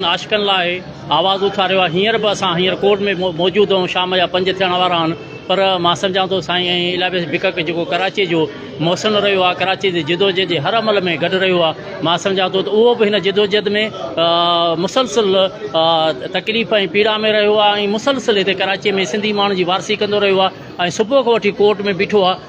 عاشقن لاء آواز اٿاريو آهي هينئر به اسان هينئر ڪورٽ ۾ موجود آهيون شام جا پنج ٿيڻ وارا آهن پر مان سمجهان ٿو سائين ۽ الابيس بڪڪ جيڪو ڪراچي جو محسن رهيو آهي ڪراچي جي جدوجهد جي هر عمل ۾ گڏ رهيو آهي مان سمجهان ٿو ته اهو به هن جدوجهد ۾ مسلسل تڪليف ۽ پيڙا ۾ رهيو آهي ۽ مسلسل هتي ڪراچي ۾ سنڌي ماڻهن جي وارثي ڪندو رهيو آهي ۽ صبح کان وٺي ڪورٽ ۾ بيٺو آهي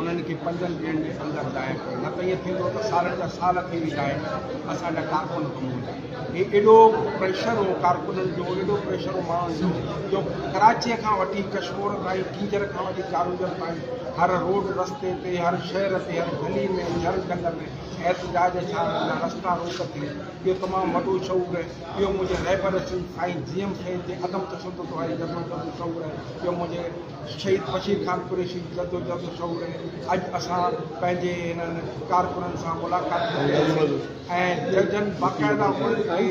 انهن کي پنجن ڏينهن جي اندر ظاهر ڪيو نه ته ائين ٿيندو ته سالن جا سال ٿي ويندا آهن اسان جا ڪارڪن گم هوندا هي ايڏو پريشر هو ڪارڪنن جو ايڏو پريشر هو ماڻهن جو جو ڪراچيء کان وٺي ڪشمور تائين ڪينجهر کان وٺي چارونجهر تائين هر روڊ رستي تي هر شهر تي هر گلي ۾ هر جنگ ۾ احتجاج ڇا رهندا رستا روڪ ٿي اهو تمام وڏو شعور آهي اهو منهنجي رهبر سنڌ سائين جي ايم سيد جي عدم تشدد واري جذبي جو شعور آهي اهو منهنجي شهيد بشير خان قريشي جي جدوجهد جو شعور اڄ اسان پنهنجي هنن ڪارڪنن سان ملاقات ڪري ۽ ججن باقاعده انهن کي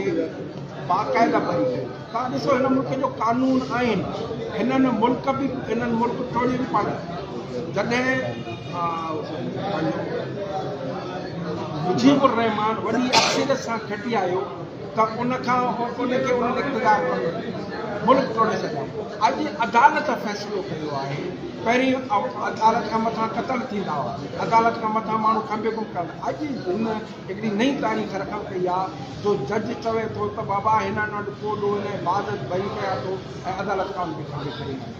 باقاعده بند ڪيو توهان ڏسو هن ملڪ جو قانون آئين هنن ملڪ به هنن ملڪ ٽوڙي به پاڻ جڏهن مجيب الرحمان وڏي اڪثريت سان کٽي آيو ته ان کان ان کي انهن اقتدار مان ڪڍي ملڪ ٽوڙي سگهيا. اڄ عدالت فيصلو ڪيو آهي. پهرين عدالت کان مٿان قتل ٿيندا هئا، عدالت کان مٿان ماڻهو کنڀي گم ڪرندا. اڄ هن هڪڙي نئين تاريخ رقم ڪئي آهي جو جج چوي ٿو ته بابا هن وٽ ڪو ڏوهه نه بعد ڀري پيا ٿو ۽ عدالت قانون کي کنڀي کڻي وڃي.